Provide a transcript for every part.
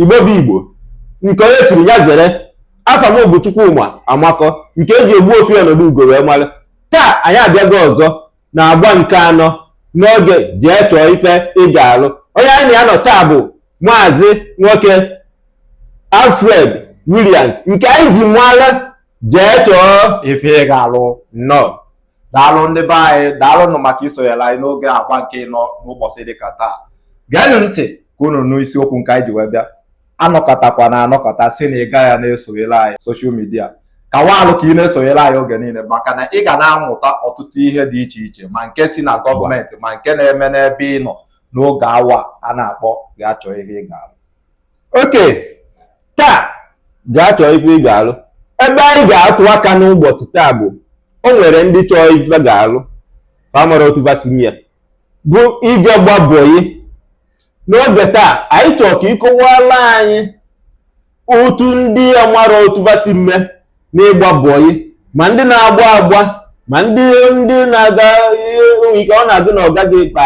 igbo bụ igbo nke onye chiri ya zere afa m bụ Chukwuma Amakọ nke eji Ogbuefi Ọnọdụugo wee mara taa anyị abịago ọzọ na agba nke anọ n'oge jee chọọ ife ị ga-alụ onye anyị na ya nọ taa bụ maazị nwoke Alfred Williams nke anyị ji mara jee chọọ ife ị ga-alụ nnọọ daalụ ndị be anyị daalụnụ maka isonyere anyị n'oge agba nke ịnọ n'ụbọchị dịka taa geenụ ntị ka unu nụ isiokwu nke anyị ji wee bịa anọkọtakwa na anọkọta si na ị gaghị ya na-esonyere anyị social media ka waalụ ka ị na-esonyere anyị oge niile maka na ị ga na-amụta ọtụtụ ihe dị iche iche ma nke si na gọọmenti ma nke na-eme n'ebe ị nọ n'oge awa a na-akpọ jee chọọ ife ị ga-alụ okay taa gaa chọọ ife ị ga-alụ ebe anyị ga-atụ aka n'ụbọchị taa bụ o nwere ndị chọọ ife va ga-alụ fa amarọ otu va si eme ya bụ ije gba bọyị n'oge taa anyị chọọ ka ị kọwaala anyị otu ndị amarọ otu va si eme ya n'ịgba bọyị ma ndị na-agba agba ma ndị ndị na-aga ike ọ na-agụ na ọga gị kpa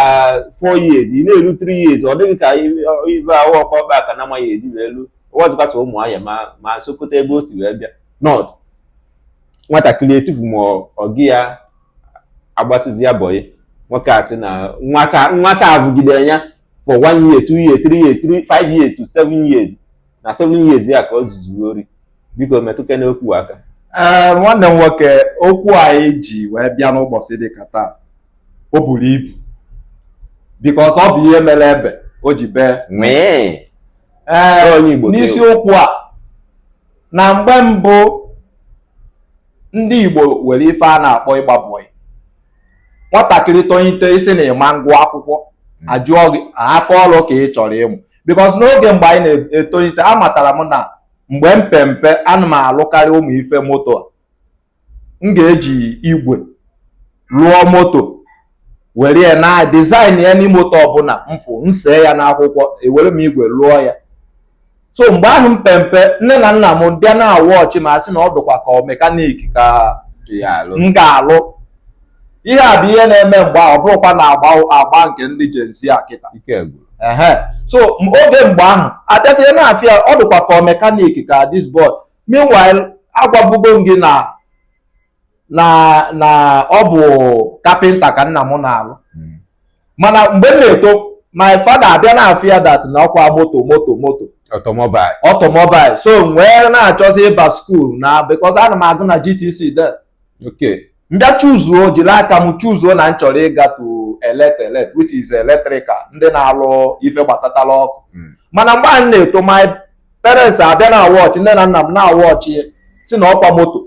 4 years ị na-eru 3 years ọ dị gị ka ibe ahụ ọkwa ọkpa aka na amaghị eji wee lu ọwazụkasa ụmụ ahịa ma ma Sokoto ebe o si wee bịa nọt nwatakịrị etufu ma ọ gị ya agbasizi ya bọyị nwoke a sị na nwata abụgide ya for 1 year 2 year 3 year 3 5 years to 7 years na seven years ya ka o zuzuru ori biko metụkene okwu aka ee eh, nwanne m nwoke okwu anyị ji wee bịa n'ụbọchị dịka taa o buru ibu because ọ bụ ihe mere ebe o ji bee ee eh, n'isiokwu a na mgbe mbụ ndị Igbo were ife a na-akpọ ịgba bọyị nwatakịrị tonyite ị sị na ị ma ngụ akwụkwọ hmm. a jụọ gị aka ọlụ ka ị chọrọ ịmụ because n'oge mgbe anyị na-etolite amatara m na mgbe m pe mpe ana m alụkarị ụmụ ife moto a m ga-eji igwe lụọ moto were ya na design ya any moto ọbụla m fụ nsee ya n'akwụkwọ ewere m igwe lụọ ya so mgbe ahụ m pe mpe nne na nna m bịa na-awụ ọchị ma sị na ọ dụkwa ka ọ mekanik ka m ga-alụ ihe a bụ ihe na-eme mgbe ahụ ọ bụrọkwa na agba agba nke ndị Gen Z a kịta so oge mgbe ahụ a bịazie na-afụ ya ọ dịkwa ka mekanik ka this boy meanwhile agwabugo m gị na na na ọ bụ kapịnta ka nna m na-alụ hmm. mana mgbe m na-eto my father abịa na-afụ ya that na ọkwa moto moto moto automobile automobile so wee na-achọzi ịba skuul na because ana m agụ na GTC de okay m bịa chuzuo jiri aka m chuzuo na m chọrọ ịga to elect elect which is electrical ndị na-alụ ife gbasatara ọkụ hmm. mana mgbe m na-eto my parents abịa na-awọchị nne na nna m na-awọchị sị na ọkwa moto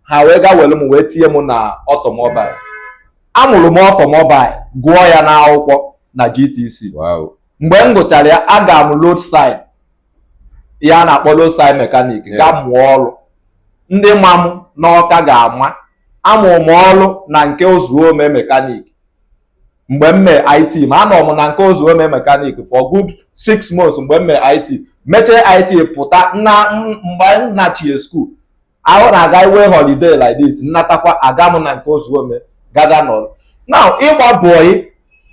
ha wee ga were m wee tinye m na automobile amụrụ m automobile gụọ ya n'akwụkwọ na GTC mgbe m gụchara ya aga m road side ihe a na-akpọ road side mekanik ga mụọ ọrụ ndị ma m n'Ọka ga-ama amụrụ m ọrụ na nke ozuome mekanik mgbe m mee IT m anọ m na nke ozuome mekanik for good six months mgbe m mee IT m mechaa IT pụta na mgbe m nachie skuul ahụ na-aga inwe holiday like this m natakwa aga m na nke ozuome gaga nọrọ na ịgba bọị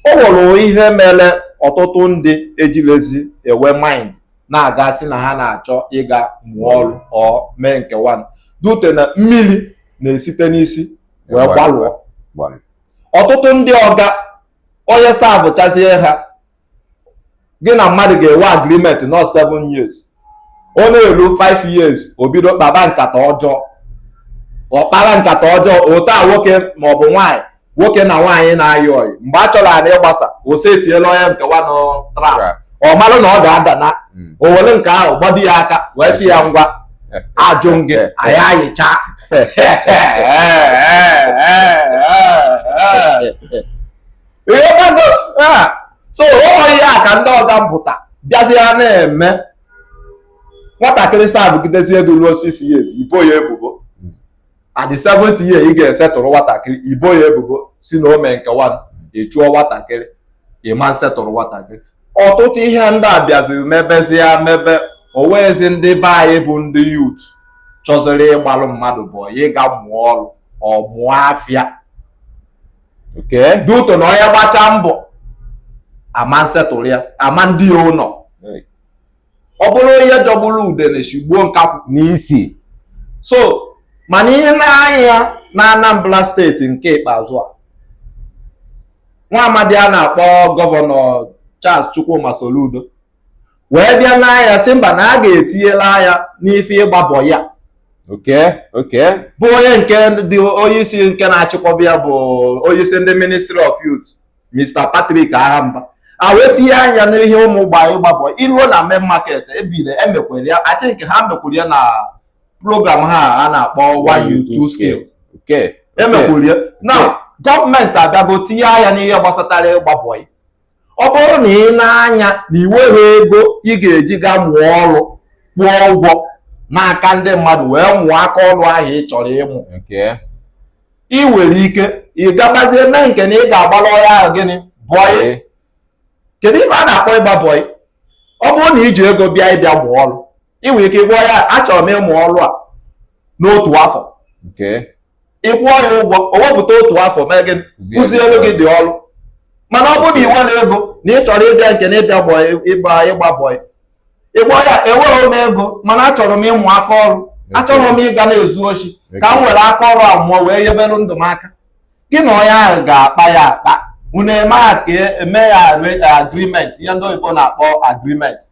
o nwere ihe mere ọtụtụ ndị ejilezi enwe mind na-aga sị na ha na-achọ ịga mụọ ọrụ or mee nke nwa due to na mmiri na-esite n'isi wee gbalụọ ọtụtụ ndị ọga onye savụchazie ha gị na mmadụ ga-enwe agreement na ọ 7 years ọ na-eru 5 years o bido kpaba nkata ọjọọ ọ kpara nkata ọjọọ otu a nwoke ma ọ bụ nwaanyị nwoke na nwaanyị na-ayị ọyị mgbe ha chọrọ anyị ịgbasa o setiere onye nke nwanụ trap ọ marụ na ọ ga-ada na hmm. o were nke ahụ gbado ya aka wee sị ya ngwa ajụ gị anyị ayịcha so ụdị ihe a ka ndị ọga mpụta bịazie na-eme nwatakịrị savụgidezie gị ruo six years i bo ya ebubo at the seventh year ị ga-esetụrụ nwatakịrị i bo ya ebubo sị na o me nke nwa ị chụọ nwatakịrị ị ma nsetụrụ nwatakịrị ọtụtụ ihe ndị a bịaziri mebezie mebe o nwezi ndị be anyị bụ ndị youth chọziri ịgbalụ mmadụ bọị ga mụọ ọrụ or mụọ afịa due to na onye gbachaa mbọ a ma nsetụrụ ya a ma ndu ya ụlọ ọ bụrụ ihe jọgburu udene shigbuo nkakwụ n'isi so mana ihe n'anya na Anambra steeti nke ikpeazụ a nwa amadi a na-akpọ gọvanọ Charles Chukwuma Soludo wee bịa n'ahịa sị mba na a ga-etinyela anya n'ife ịgba bọyị a oke oke bụ onye nke dị onyeisi nke na-achịkwaba ya bụ onyeisi ndị ministry of youth Mr. Patrick Agha Mba a wee tinye anya n'ihe ụmụ gba ịgba bọyị ruo na main market ebe nile emekwere ya I think ha mekwuru ya na program ha a na-akpọ one youth two skills emekwuru ya na gọọmenti abịago tinye anya n'ihe gbasatara ịgba bọyị a ọ bụrụ na ị na-anya na ị nweghị ego ị ga-eji ga mụọ ọrụ kwụọ ụgwọ n'aka ndị mmadụ wee mụọ aka ọrụ ahụ ị chọrọ ịmụ ị nwere ike ị gabazie mee nke na ị ga-agbara ọga ahụ gịnị bọyị kedu ife a na-akpọ ịgba bọyị ọ bụrụ na i ji ego bịa ị bịa mụọ ọrụ ị nwere ike ịgwa ya achọrọ m ịmụ ọrụ a n'otu afọ ị kwụọ ya ụgwọ o wepụta otu afọ mee gị kụziere gị dị ọrụ mana ọ bụrụ na ị nweghị ego na ị chọrọ ịbịa nke na ịbịa bọị ịgba ịgba bọị ị gwa ya enweghị m ego mana achọrọ m ịmụ aka ọrụ achọrọ m ịga na-ezu oshi ka m were aka ọrụ a mụọ wee nyebere ndụ m aka gị na onye ahụ ga-akpa ya akpa unu eme ya ka eme ya agrimenti ihe ndị oyibo na-akpọ agrimenti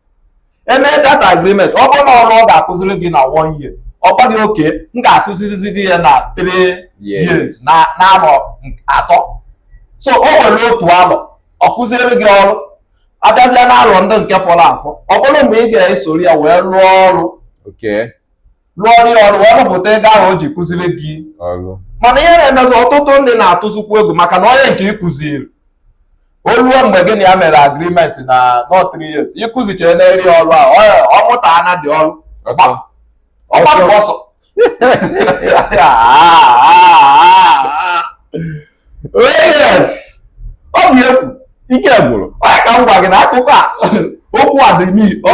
e mee that agreement ọ bụrụ na ọrụ ọ ga-akụziri gị na one year ọ gwa gị oke m ga-akụzirizi gị ya na three years na arọ atọ so o nwere otu alọ ọ kụziere gị ọrụ abịazịa na alọ ndị nke fọrọ afọ ọ bụrụ mgbe ị ga-esoro ya wee rụọ ọrụ rụọrị ọrụ wee rụpụta ego ahụ o ji kụziri gị mana ihe na-emezi ọtụtụ ndị na-atụzikwu egwu maka na onye nke ị kụziri o luo mgbe gị na ya mere agrimenti na ọ 3 years ị kụzichere ya dị ọrụ ahụ ọ mụtana dị ọrụ ọ gbapụ ọsọ ọ bụ ekwu ike gwụrụ onye ka m gwa gị na akụkọ a okwu a dị ọ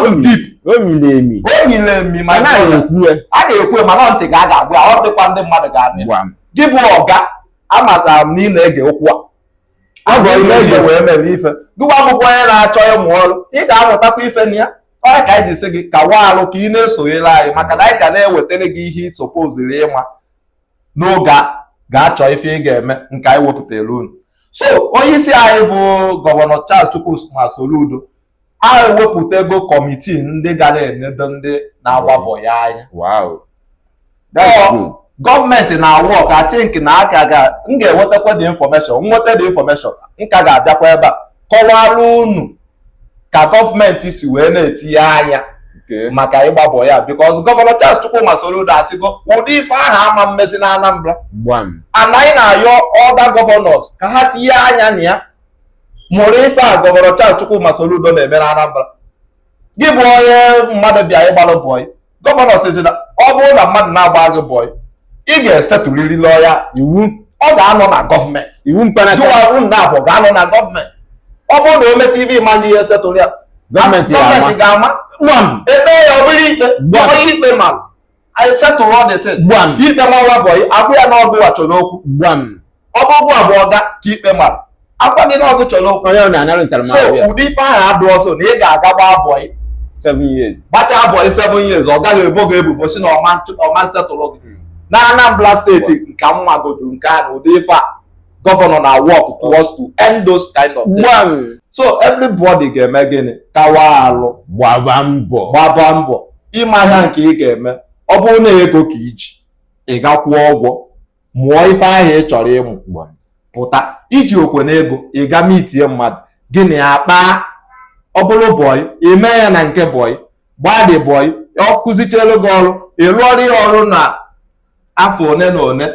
dị dip o miri emi ma a na-ekwu mana ntị ga a ga-agwa ọ dịkwa ndị mmadụ ga-abịa gị bụ ọga amatara m na ị na-ege okwu a agwa ihe eji wee mere ife gụwa akwụkwọ onye na-achọ ịmụ ọrụ ị ga-amụtakwa ife na ya ọ ya ka anyị ji sị gị kawa alụ ka ị na-esonyere anyị maka na anyị ga na-ewetara gị ihe ị sopoziri ịma n'oge a ga-achọ ife ị ga-eme nke anyị wepụtara unu so onye isi anyị bụ gọvanọ Charles Chukwuma Soludo anyị wepụtago kọmitii ndị ga na-enedo ndị na-agba bọyị anya gọọmenti na-awọk I think na aka ga m ga-enwetakwa dị infọmeshọn nweta dị infọmeshọn m ka ga-abịakwa ebe a kọwara unu ka gọọmenti si wee na-etinye anya maka ịgba bọyị because gọvanọ Charles Chukwuma Soludo asịgo ụdị ife ahụ ama mmezi na Anambra and anyị na-ayọ other gọvanọs ka ha tinye anya na ya mụrụ ife a gọvanọ Charles Chukwuma Soludo na-eme na Anambra gị bụ onye mmadụ bịa ịgbalụ bọyị gọvanọ sizi na ọ bụrụ na mmadụ na-agba gị bọị ị ga-esetụriri lọya iwu ọ ga-anọ na gọọmenti iwu mkpanaka jụwarụ nna abụ ga-anọ na gọọmenti ọ bụrụ na o meta ibe ịma ndị ihe setụrụ ya gọọmenti ga-ama ekpe ya ọ bụrụ ikpe gbọọ ikpe ma anyị setụrụ ọdịtị ikpe ma nwa bọị agwa ya na ọ gịwa chọrọ okwu ọ bụ gịwa bụ ọga ka ikpe mara agwa gị na ọ gị chọrọ okwu onye ọ na-anara so ntaramahụhụ ya ụdị ife ahụ adịrọzị na ị ga-aga gbaa bọị seven years gbachaa bọị seven years ọga gị ebo gị ebubo si na ọma ntụ- ọma nsetụrụ gị na Anambra steeti nke m magodu nke a na ụdị ife a gọvanọ na-awork towards to end those kind of things. gbam so everybody ga-eme gịnị kawa alụ gbaba mbọ gbaba mbọ ịma ihe nke ị ga-eme ọ bụrụ na ego ka iji ị gaa kwụọ ụgwọ mụọ ife ahụ ị chọrọ ịmụ pụta ijirọkwanụ ego ị gaa meetie mmadụ gị na ya kpaa ọ bụrụ bọyị ime ya na nke bọyị gbadị bọyị ọ kụzichelu gị ọrụ ị lụọrụ ya ọrụ na afọ one na one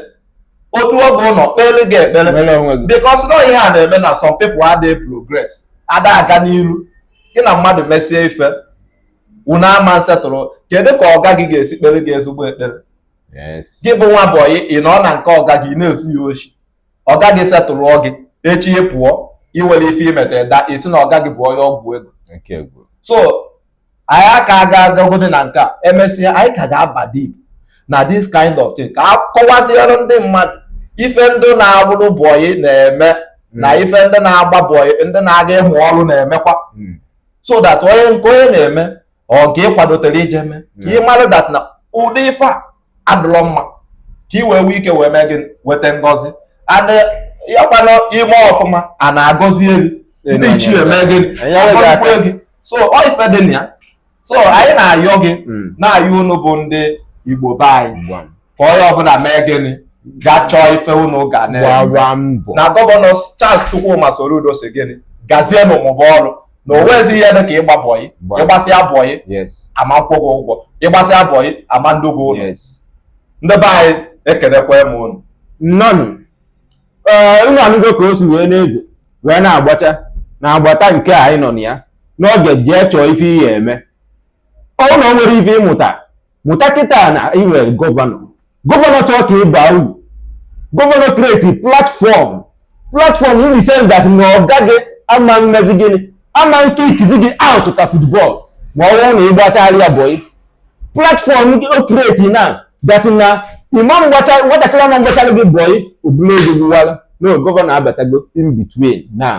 otu oge luo o kpeere gị ekpere because na ọ ihe a na-eme na some people adịghị progress ada aga n'iru gị na mmadụ mesie ife unu ama nsetụrụ kedu ka ọga gị ga-esi kpere gị ezigbo ekpere gị bụ nwa bọyị ị nọ na nke ọga gị na-ezu ya oshi ọga gị setụlụọ gị echi ị pụọ iwere ife imeta daa i si na ọga gị bụ onye ọgwụ ego so anyị aka aga agagodi na nke a emesịa anyị ka ga-aba deep na this kind of thing ka a kọwaziere ndị mmadụ ife ndị na-abụrụ bọyị na-eme na hmm. ife ndị na-agba bọyị ndị na-aga ịmụ ọrụ na-emekwa hmm. so that onye nke onye na-eme ọ nke ị kwadotere ije mee ka ị mara that na ụdị ife a adịrọ mma ka ị wee nwee ike wee mee gịnị weta ngọzi and ya kwanụ i mee ọfụma ana agọzie gị ndị ichie emee gịnị agọzikwa gị so ọ ife dị na ya so anyị na-ayọ gị hmm. na-ayọ unu bụ ndị Igbo be anyị ka onye ọbụla mee gịnị gaa chọọ ife unu ga na-agba mbọ na gọvanọ Charles Chukwuma Soludo si gị gazie na-amụba ọrụ na o nweghịzi ihe dị ka ịgba bọyị ịgbasịa bọyị ama nkwụ gị ụgwọ ịgbasịa bọyị ama ndu gị ụlọ ndị be anyị ekelekwa m unu nnọnụ ee unu anụgo ka o si wee na-ezo wee na-agbacha na agbata nke anyị nọ na ya n'oge jee chọọ ife ị ga-eme ọ na o nwere ife ị mụta mụta kịta na ị nwere gọvanọ gọvanọ chọọ ka ị baa uru gọvanọ create platform platform in the sense that na ọ gaghị ama mmezi gịnị ama kickizi gị out ka football ma ọ bụrụ na ị gbachara ya bọl platform o create na that na ịma mgbacha nwatakịrị ama mgbachara gị bọl ọbụla ego gbuwara no gọvanọ abatago in between now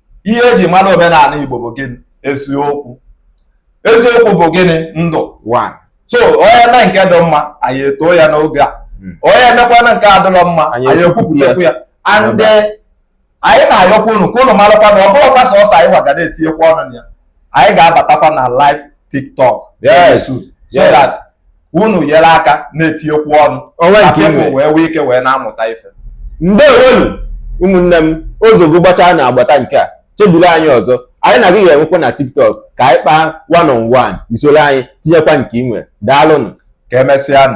ihe eji mara omenala Igbo bụ gịnị eziokwu eziokwu bụ gịnị ndụ so onye mee nke dị mma anyị etoo ya n'oge a hmm. onye mekwanụ nke adịrọ mma anyị ekwupụtakwu ya and eh, anyị na-ayọkwa unu ka unu marakwa na ọ bụrọkwa sọsọ anyị wa ga na-etinyekwa ọnụ na ya anyị ga-abatakwa na live tiktok yes so that unu nyere aka na-etinyekwu ọnụ wee nwee ike wee na-amụta ife ndewonu ụmụnne m ozugbo gbachaa n'agbata nke a chebiri anyị ọzọ anyị na gị ga-enwekwa na tiktok ka anyị kpaa one on one i soro anyị tinyekwa nke i nwere daalụnụ ka emesịa